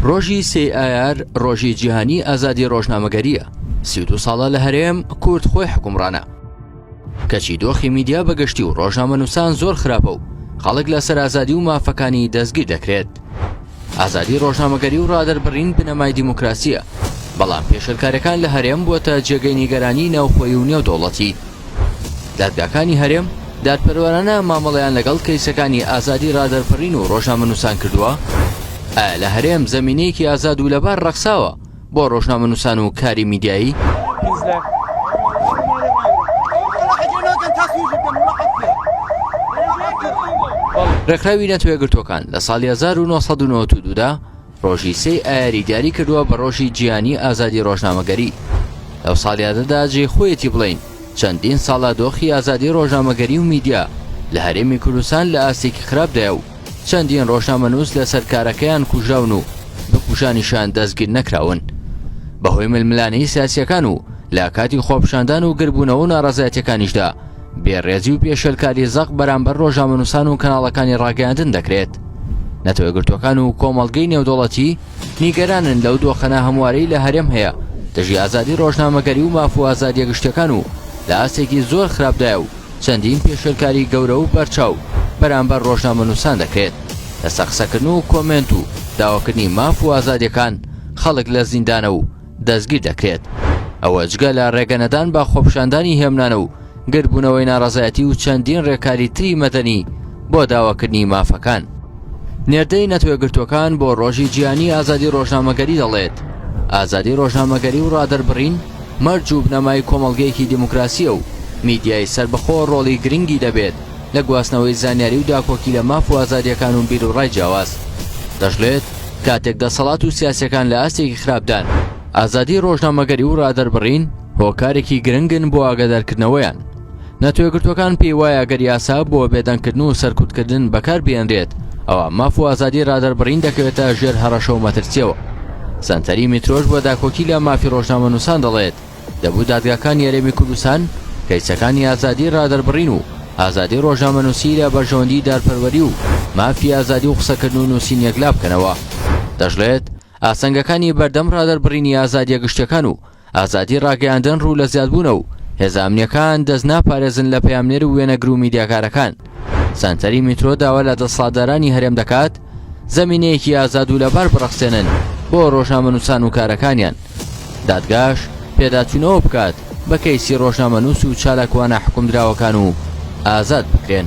ڕۆژی سێ ئایار ڕۆژی جیهانی ئازادی ڕۆژنامەگەریە سی دو ساڵە لە هەرێم کورد خۆی حکومڕانە کەچی دۆخی میدیا بەگشتی و ڕۆژنامە نووسان زۆر خراپە و خەڵک لە سەرازادی و مافەکانی دەستگیر دەکرێت ئازادی ڕۆژنامەگەری و ڕادەربڕین بنەمای دیموکراسییە، بەڵام پێشێلکاریەکان لە هەرێم بووەتە جێگەی نیگەرانی ناوخۆیی و نێودەوڵەتی. دادگاکانی هەرێم دادپەروەرانە مامەڵەیان لەگەڵ کەیسەکانی ئازادی ڕادەربڕین و ڕۆژنامەنووسان کردووە؟ ئایا لە هەرێم زەمینەیەکی ئازاد و لەبار ڕەخساوە بۆ ڕۆژنامەنووسان و کاری میدیایی ڕێکخراوی نەتەوە یەکگرتووەکان لە ساڵی 1992 دا ڕۆژی سێی ئایاری دیاری کردووە بە ڕۆژی جیهانی ئازادی ڕۆژنامەگەری لەو ساڵیادەدا جێی خۆیەتی بڵین چەندین ساڵە دۆخی ئازادی ڕۆژنامەگەری و میدیا لە هەرێمی کوردستان لە ئاستێکی خراپدایە و چەندین ڕۆژنامەنووس لەسەر کارەکەیان کوژراون و بکوژانیشان دەستگیر نەکراون بەهۆی ململانەی سیاسیەکان و لە کاتی خۆپشاندان و گربوونەوە و ناڕزایەتەکانیشدا بێڕێزی و پێشێلکاری زەق بەرامبەر ڕۆژامەنووسان و کەناڵەکانی ڕاگەیاندن دەکرێت نەتەوە گرتوەکان و کۆمەڵگەی نێودوڵەتی نیگەرانن لەو دۆخەنا هەموارەی لە هەرێم هەیە دژی ئازادی ڕۆژنامەگەری و مافو ئازادیە گشتەکان و لە ئاستێکی زۆر خراپدایە و چەندین پێشێلکاری گەورە و بەرچاو بەرامبەر ڕۆژنامەنووسان دەکرێت، لەسەر قسەکردن و کۆمێنت و داواکردنی ماف و ئازادییەکان خەڵک لە زیندانە و دەستگیر دەکرێت، ئەوە جگە لە ڕێگەنەدان بە خۆپیشاندانی هێمنانە و گردبوونەوەی ناڕەزایەتی و چەندین ڕێکاری تری مەدەنی بۆ داواکردنی مافەکان. نێردەی نەتەوەیەکگرتووەکان بۆ ڕۆژی جیهانی ئازادی ڕۆژنامەگەری دەڵێت، ئازادی ڕۆژنامەگەری و ڕادەربڕین، مەرج و بنەمای کۆمەڵگەیەکی دیموکراسییە و میدیای سەربەخۆ ڕۆڵی گرنگی دەبێت لە گواستنەوەی زانیاری و داکۆکی لە ماف و ئازادییەکان و بیروڕای جیاواز. دەشڵێت، کاتێک دەسەڵات و سیاسییەکان لە ئاستێکی خراپدان، ئازادیی ڕۆژنامەگەری و ڕادەربڕین هۆکارێکی گرنگن بۆ ئاگادارکردنەوەیان، نەتەوەیەکگرتووەکان پێی وایە گەر یاسا بۆ بێدەنگکردن و سەرکوتکردن بەکار بێنرێت ئەوە ماف و ئازادی رادەربڕین دەکەوێتە ژێر هەڕەشە و مەترسیەوە سەنتەری میترۆش بۆ داکۆکی لە مافی ڕۆژنامە نووسان دەڵێت دەبوو دادگاکان یارێمی کوردستان کەیسەکانی ئازادی رادەربڕین و ئازادی ڕۆژنامە نووسی لە بەرژەوەندی دارپەروەری و مافی ئازادی و قسەکردن و نووسین یەکلا بکەنەوە دەشڵێت ئاسنگەکانی بەردەم ڕادەربڕینی ئازادیە گشتەکان و ئازادی ڕاگەیاندن ڕوو لە زیادبوونە و هێزە ئەمنییەکان دەست ناپارێزن لە پەیامنێر و وێنەگر و میدیاکارەکان. سەنتەری میترۆ داوا لە دەسەڵاتدارانی هەرێم دەکات زەمینەیەکی ئازاد و لەبار بڕەخسێنن بۆ ڕۆژنامەنووسان و کارەکانیان. دادگاش پێداچوونەوە بکات بە کەیسی ڕۆژنامەنووس و چالاکوانە حوکمدراوەکان و ئازاد بکرێن.